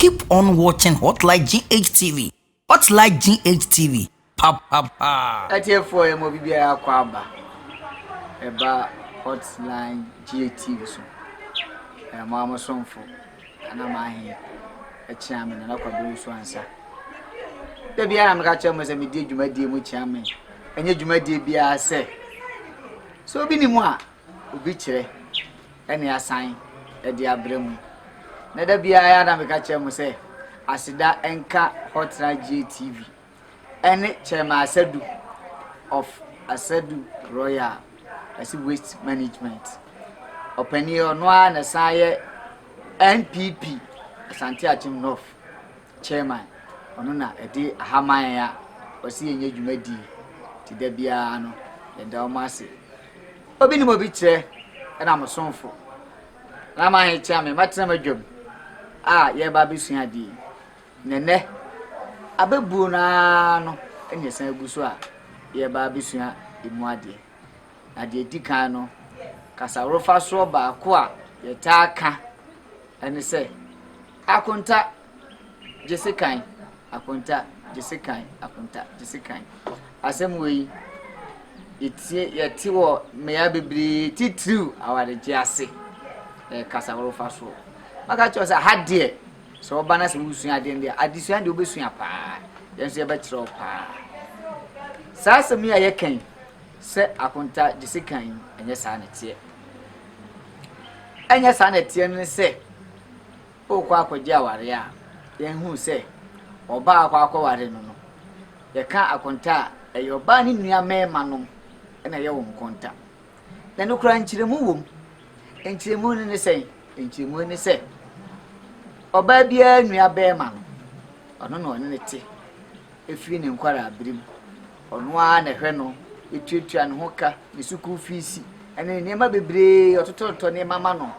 Keep on watching Hotline GHTV. Hotline GHTV. Pa pa pa. Atiefoɔ yɛ mo bibiara akɔ aba ɛba Hotline GHTV so. Ɛyɛ mo amosomfo ana mahe ɛkyea me nana kwabi nso ansa. Da biara meka kyerɛ mo sɛ medi dwumadie mu kyea me. Ɛnyɛ dwumadie biara sɛ sɛ obi ni mu a obi kyerɛ ne asan de abrɛ mu. Na da biara yɛ a na meka kyerɛ mo sɛ aseda nka Hotna GATV ne Chairman Asadu of Asadu Royal ɛsi Waste Management. Ɔpanin ɔno ara na san yɛ NPP Asante Akyem North Chairman ɔno na ɛde ahaman a ɔsi yɛnyɛ dwumadie ti da biara no yɛda wɔn ase. Obi nim obi kyerɛ ɛna mo somfo na ma he kyea me matena m'adwam a yɛreba abɛsua adeɛ yi na nɛ abɛbuo no ara no ɛna ɛsan agu so a yɛreba abɛsua emu adeɛ na deɛ di kan no kasaworofa soɔ baako a yɛtaa ka ɛne sɛ akonta gyese kan akonta gyese kan akonta gyese kan asɛm wei yɛtie yɛte wɔ mmeaeɛ bebree titiriw awaregye ase ɛyɛ kasa wɔrefa so maka kyerɛ sɛ ha deɛ sɛ wɔba na sɛ wosua adeɛ deɛ adesua deɛ wobɛsua paa yɛn nso yɛbɛkyerɛ wo paa saa asɛm yi a yɛka yi sɛ akonta gyese kan yi ɛnyɛ saa na ɛteɛ ɛnyɛ saa na ɛteɛ no ne sɛ Worekɔ akɔgye aware a, yɛhu sɛ ɔbaa a ɔkɔ akɔware no no, yɛka akonta a, ɛyɛ ɔbaa ne nua mmarima nom na ɛyɛ wɔn konta. Na ɛno koraa nkyerɛmu wom. Nkyerɛmu no ne sɛn? Nkyerɛmu ne sɛ, ɔbaa biara nua barima no, ɔno na ɔne no te. Ɛfiri ne nkwaraa bere mu. Ɔno ara na ɛhwɛ no, ɛtuatua ne ho ka, ne sukuu fiisi, ɛne nneɛma bebree, ɔtotɔtotɔ nneɛma ma no.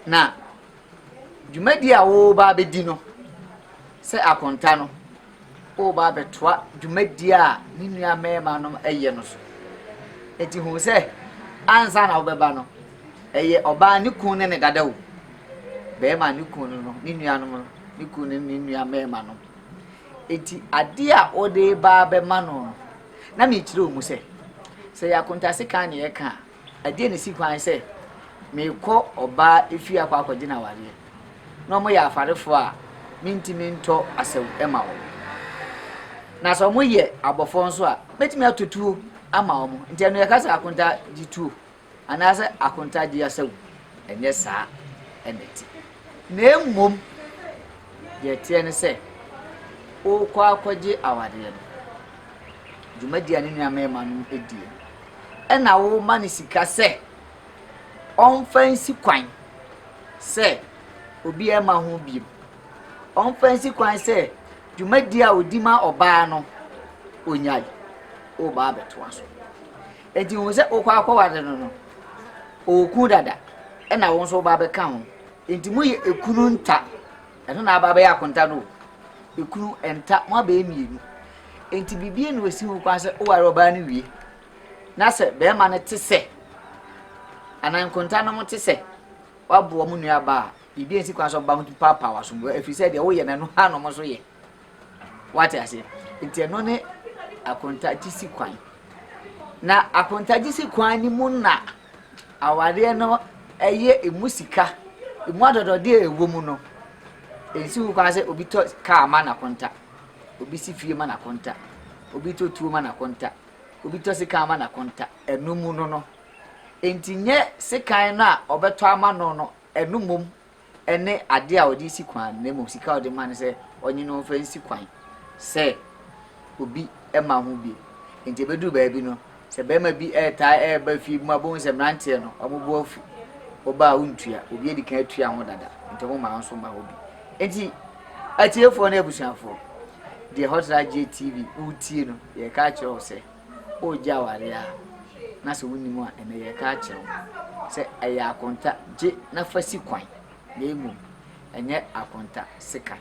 Na dwumadi a woreba abɛdi no, sɛ akonta no, woreba abɛtoa dwumadi a ne nua mmarima no yɛ no so. Enti hu sɛ, ansa na wobɛba no, ɛyɛ ɔbaa ne kun ne ne dada o, barima ne kun no, ne nuanom no, ne kun ne ne nua mmarima no. Enti adeɛ a wode ba abɛma no no, na mekyerɛ wo mu sɛ, sɛ yɛ akonta sekan na yɛka a, Ɛdeɛn na ɛsi kwan sɛ merekɔ ɔbaa efie akɔ akɔgye no awareɛ, na wɔyɛ afarefoɔ a mentumi ntɔ asau mma wɔn? Na sɛ wɔyɛ abɔfoɔ nso a, mɛtumi atɔ tuo ama wɔn? Nti ɛno yɛka sɛ akontagye tuo anaasɛ akontagye asau? Ɛnyɛ saa ɛna ɛte. Na mmom, deɛ ɛteɛ ne sɛ, worekɔ akɔgye awareɛ no, dwumadie a ne nua mmarima no die no, Ɛna wo ma no sika sɛ ɔmfa nsi kwan sɛ obiara mma ho bio. Ɔmfa nsi kwan sɛ dwumadi a odi ma ɔbaa no onyae. Woba abɛtoa so. Enti hu sɛ wokɔ akɔware no no, ɔwɔ kunu dada, ɛna wo nso woba abɛka ho. Enti moyɛ ekunu nta. Ɛno na aba abɛyɛ akonta no o. Ekunu, ɛnta, mo abɛyɛ mmienu. Enti biribiara nni hɔ a ɛsi ho kwan sɛ woware ɔbaa no wie. Na sɛ barima no te sɛ, anaa nkontanom te sɛ, woaboa mo nuabaa a, biribiara nsi kwan sɛ ɔbaa no tumi paapaw w'asom, ɛfiri sɛ deɛ woyɛ no, ɛno ara na wɔn nso yɛ. Wate aseɛ? Nti ɛno ne akontagye si kwan. Na akontagye si kwan no mu na awareɛ no ɛyɛ emu sika, emu adɔdɔdeɛ a ɛwɔ mu no. Ɛnsi ho kwan sɛ obi tɔ kaa ma n'akonta, obi si fie ma n'akonta, obi tɔ tuo ma n'akonta, obi tɔ sekan ma n'akonta. Ɛno mu no no. Nti nyɛ sekan no a ɔbɛtɔ ama no no, ɛno mmom ne ade a ɔde si kwan no, na mmom sika a ɔde ma no sɛ ɔnye no mfa nsi kwan sɛ obi mma ho bi. Enti ebeduru baabi no, sɛ barima bi retaa reba fie bi mu abohu sɛ mmeranteɛ no wɔn bo afu, ɔba a wontua, obi adi kan atua ho dada, nti wɔn mma nso mma hɔ bi. Enti atiefoɔ ne abusuafoɔ, deɛ Hot Light Gye TV wotie no, yɛreka akyerɛ wo sɛ. woregye aware a, na sɛ wonnim a, ɛnnɛ yɛreka akyerɛ wo sɛ ɛyɛ akonta, gye na fa si kwan, na mmom ɛnyɛ akonta, si kan.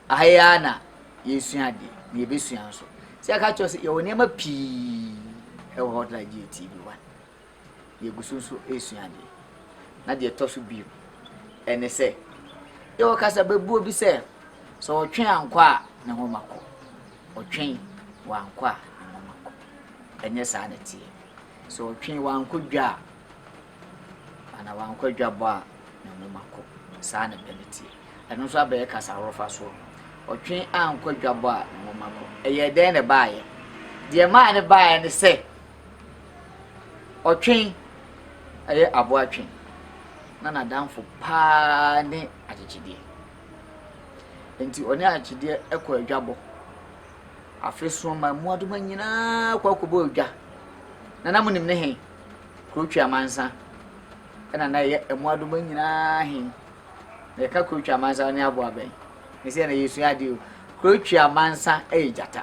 Aha yi ara na yɛsua adeɛ, na yɛbɛsua nso. Sɛ yɛka kyerɛ sɛ yɛwɔ nneɛma pii wɔ Hotline GATV 1. yɛgu so nso resua adeɛ. Na deɛ ɛtɔ so bio ne sɛ, yɛwɔ kasababuo bi sɛ, sɛ ɔtwe ankɔ a, ne ho ma kɔ. Ɔtwe wankɔ a, ne ho ma kɔ. Ɛnyɛ saa na ɛteɛ. Sɛ ɔtwe wankɔ dwa a, anaa wankɔ adwabɔ a, ne ho ma kɔ. Saa na ɛbɛ no teɛ. Ɛno nso abɛyɛ kasa horofa soɔ. Ɔtwe ankɔ adwabɔ a, ne ho ma kɔ. Ɛyɛ dɛn na ɛbaeɛ? Deɛ ɛmaa no baeɛ ne sɛ, Ɔtwe yɛ aboa twe, na n'adamfo paa ne akyekyedeɛ. Nti ɔne akyekyedeɛ kɔ adwabɔ. Afe so ma mmoadoma nyinaa kɔ akɔbɔ adwa. Na na monim ne he? Kurotwi amansa ɛna na ɛyɛ mmoadoma nyinaa he. Na yɛka kurotwi amansa ne aboa bɛn? Ne sɛ na yɛsua adeɛ o. Kurotwi amansa yɛ gyata.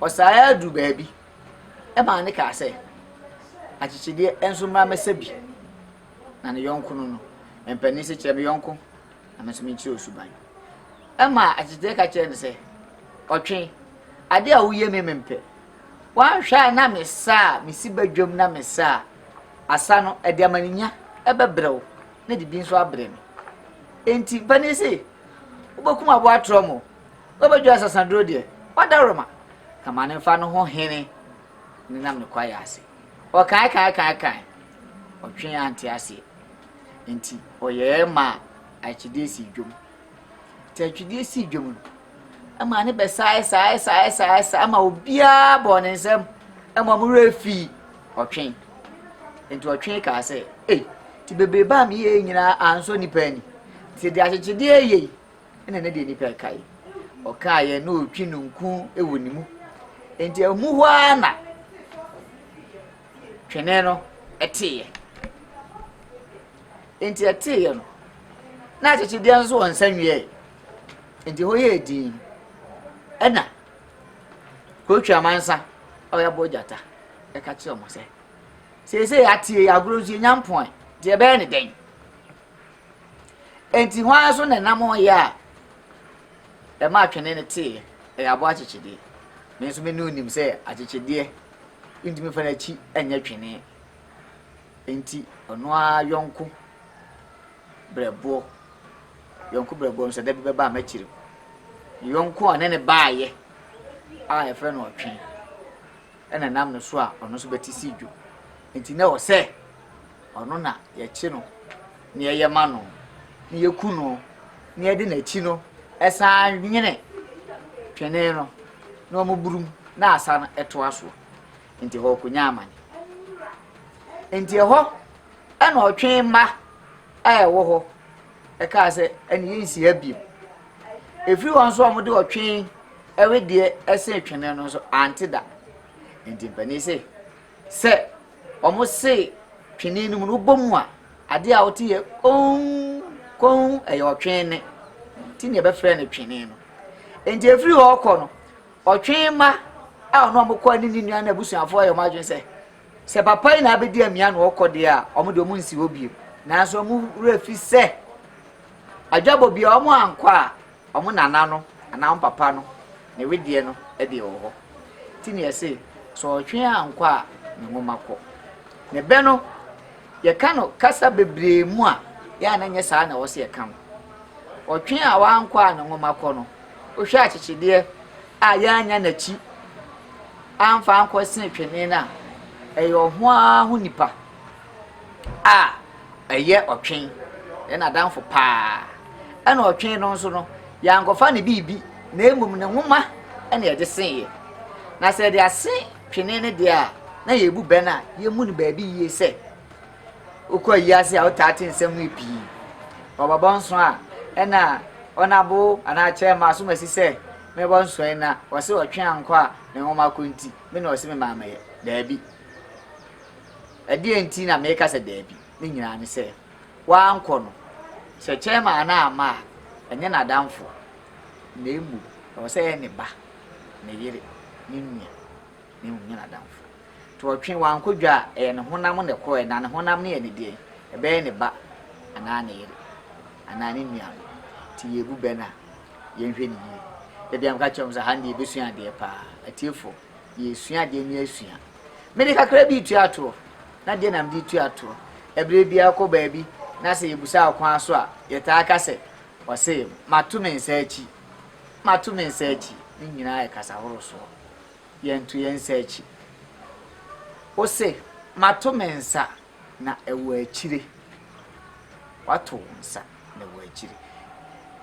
Ɔsan ara duu baabi maa no kaa sɛ, Akyekyedeɛ nso mmra mmɛsa bi. Na ne yɔnko no no, mpanin se, Kyerɛ me yɔnko, na me nso menkyerɛ wo suban. Ɛma akyekyedeɛ ka kyerɛɛ no sɛ, Ɔtwe, adeɛ a woyɛ me mempɛ. Woanhwɛ a na mesa a mesi badwam na mesa a asa no ɛde amaninya bɛbrɛ wo na ɛde bi nso abrɛ me. Enti mpanin se, Wobɛkum aboa torɔm o. Ɔbɛdwo asasaduro deɛ, ɔdaworoma, ka ma no mfa no ho hene ne nam ne kwaeɛ ase. Ɔkaekaekaekae, ɔtwee ante aseɛ, enti ɔyɛɛ maa atwedie sii dwom. Nti atwedie sii dwom no, ɛmaa ne bɛsaae saae saae saae saae ma obiara bɔɔ ne nsam ma wɔn werɛ fii ɔtwe. Nti ɔtwe kaa sɛ, Ei, nti bebrebe a meyɛɛ nyinaa ansɔ nnipa ani. Nti deɛ akyekyedeɛ reyɛ yi, na ne deɛ nipa kae ɔkaeɛ na ɔtwi no nku wɔ ne mu nti ɛmu hɔ ara na twene no ɛteeɛ nti ɛteeɛ no na akyekyedeɛ nso wɔ nsa nwieɛ nti hɔ yɛ din ɛna kotwi amansa a ɔyɛ bɔ gyata ɛka kyerɛ ɔmo sɛ seesei ateɛ yɛ agorɔ nso yɛnya mpɔn deɛ ɛbɛyɛ ne dɛn Enti hwan so na ɛnam hɔ yɛ a ɛmaa twene no teeɛ? Ɛyɛ aboa akyekyedeɛ. Me nso me ne wonim sɛ akyekyedeɛ ntumi fa n'akyi nyɛ twene. Enti ɔno ara yɔnko brɛboɔ, yɔnko brɛboɔ no sɛ da bi bɛba a mɛkyere mu. Ne yɔnko a ne ne baayɛ a yɛfrɛ no ɔtwe ɛna nam no so a ɔno nso bɛte si dwo. Enti na ɔsɛ Ɔno na yɛkye no na yɛyɛ ma no, na yeku no, na yɛde n'akyi no san nwene twene no na wɔburum na asan toa so. Enti ɛhɔ ɔkonya amane. Enti ɛhɔ ɛna ɔtwe mma a ɛwɔ hɔ ɛkaa sɛ ɛne yɛnsi ha biom. Ɛfiri hɔ nso a wɔde ɔtwe ɛwedeɛ ɛse twene no nso ante da. Enti mpanin se Sɛ wɔse twene no mu no, wobɔ mu a, adeɛ a wote yɛ komm, komm, ɛyɛ ɔtwe nne. Nti na yɛbɛfrɛ no twene no. Nti ɛfiri hɔ kɔ no, ɔtwe mma a ɔno ɔmo kɔ ne ne nua no abusuafoɔ yɛ ɔmo adwene sɛ, sɛ papa yi na abɛdi amia na ɔkɔ deɛ a, ɔmo deɛ ɔmo nsi hɔ bio. Nanso ɔmo werɛ fi sɛ, adwabɔ bia ɔmo ankɔ a, Wɔn nana no anaa wɔn papa no ne wedeɛ no deɛ wɔ hɔ. Nti na yɛse, sɛ ɔtwe ankɔ a ne nwoma kɔ. Ne bɛ no, yɛka no kasa bebree mu a, yɛ a na nyɛ saa na ɛwɔ sɛ yɛka no. Ɔtwe a wankɔ a ne nwoma kɔ no, wohwɛ akyekyedeɛ a yɛannya n'akyi amfa ankɔ se twene no a, ɛyɛ ɔho ara ho nipa a ɛyɛ ɔtwe, yɛ n'adamfo paa. Ɛna ɔtwe no nso no, yɛankɔfa ne biribi, na mmom ne nwoma na yɛde seeɛ. Na sɛ yɛde ase twene no deɛ a, na yɛbu bɛn a yɛmmu no baabi yie sɛ, wokɔ ayiase a wotaa te nsɛm yi pii. Ɔbɛbɔ nso a, ɛna ɔnabo anaa kyerɛ ma asom asi sɛ mɛbɔ nso yi na ɔse ɔtwe ankɔ a ne nwoma kɔ nti, me na ɔse me maa mɛyɛ. Daabi. Ɛdeɛn nti na meka sɛ daabi? Ne nyinaa ne sɛ, wankɔ no, sɛ chairman no amma a, ɛnyɛ n'adamfo, na mmom ɛwɔ sɛ ɛyɛ ne ba, ne yere, ne nua, na mmom nyɛ n'adamfo. Nti ɔtwe, wankɔ dwa a, ɛyɛ ne honam na ɛkɔɔɛ, na ne honam no yɛ ne deɛn? Ɛbɛyɛ ne ba, anaa ne yere, anaa ne nuanom. Nti yɛrebu bɛ no a, yɛnhwɛ no yie. Da bi a meka kyerɛ wɔn sɛ, ha no deɛ yɛbɛsua adeɛ paa. Atiefoɔ, yɛresua adeɛ no asua. Mede kakra bi retua toɔ, na deɛ na mede retua toɔ. Ɛberɛ biara kɔ baabi na sɛ yɛbusa ɔkwan so a, yɛtaa ka sɛ, ɔse, mato me nsa akyi, mato me nsa akyi. Ne nyinaa yɛ kasa horow soɔ. Yɛnto yɛn nsa akyi. Wose, mato me nsa. na ɛwɔ akyire wato wo nsa na ɛwɔ akyire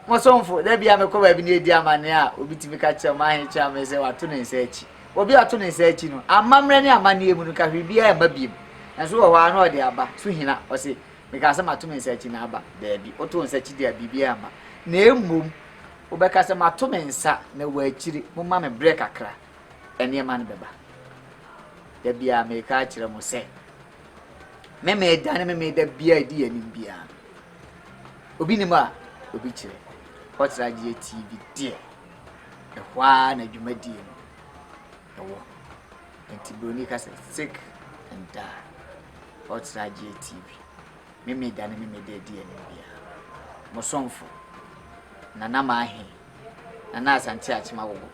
mo somfo da bia mekɔ baabi na ɛdi amanneɛ a obi tumi ka kyerɛ mahe kyerɛ me sɛ wato ne nsa akyi obi ato ne nsa akyi no amammerɛ ne amanneɛ mu no ka hwere biara mma biem nanso wɔ hɔ a na ɔde aba so hina ɔse meka sɛ mato me nsa akyi na aba daabi woto nsa akyi deɛ biribiara mma na mmom wobɛka sɛ mato me nsa na wɔ akyire momma me berɛ kakra nneɛma no bɛba. Da biara meka akyerɛ mo sɛ, me meda ne me meda biara edi yɛn anim biara no, obi nim a obi kyerɛ. Kɔtra gyeɛ TV deɛ, ɛhɔ ara na dwumadie no ɛwɔ. Nti Buroni ka sɛ, sick and die. Kɔtra gyeɛ TV. Me meda ne me meda edi yɛn anim biara. Mo somfo, Nana Mahee. Nana Asante Akyem Awogo,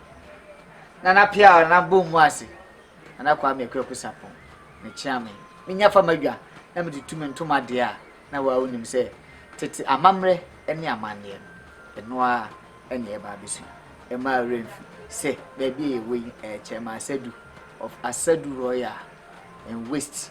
Nana Piaw, Nana Bom mu ase, Nana Kwame Kwaku Sarpong, ne Kyeame menya fa m'adwa na mede tu me ntoma deɛ a na waa wonim sɛ tete amammerɛ ne amanneɛ no ɛno ara ɛne ɛba abɛsu ɛmaa werɛ mfi sɛ baabi a yɛwɔ yi ɛyɛ Kyɛma Asadu of Asadu Royal and Waste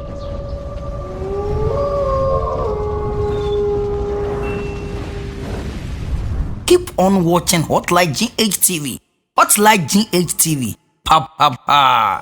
Keep on watching Hotline GH TV, Hotline GH TV, pa pa pa!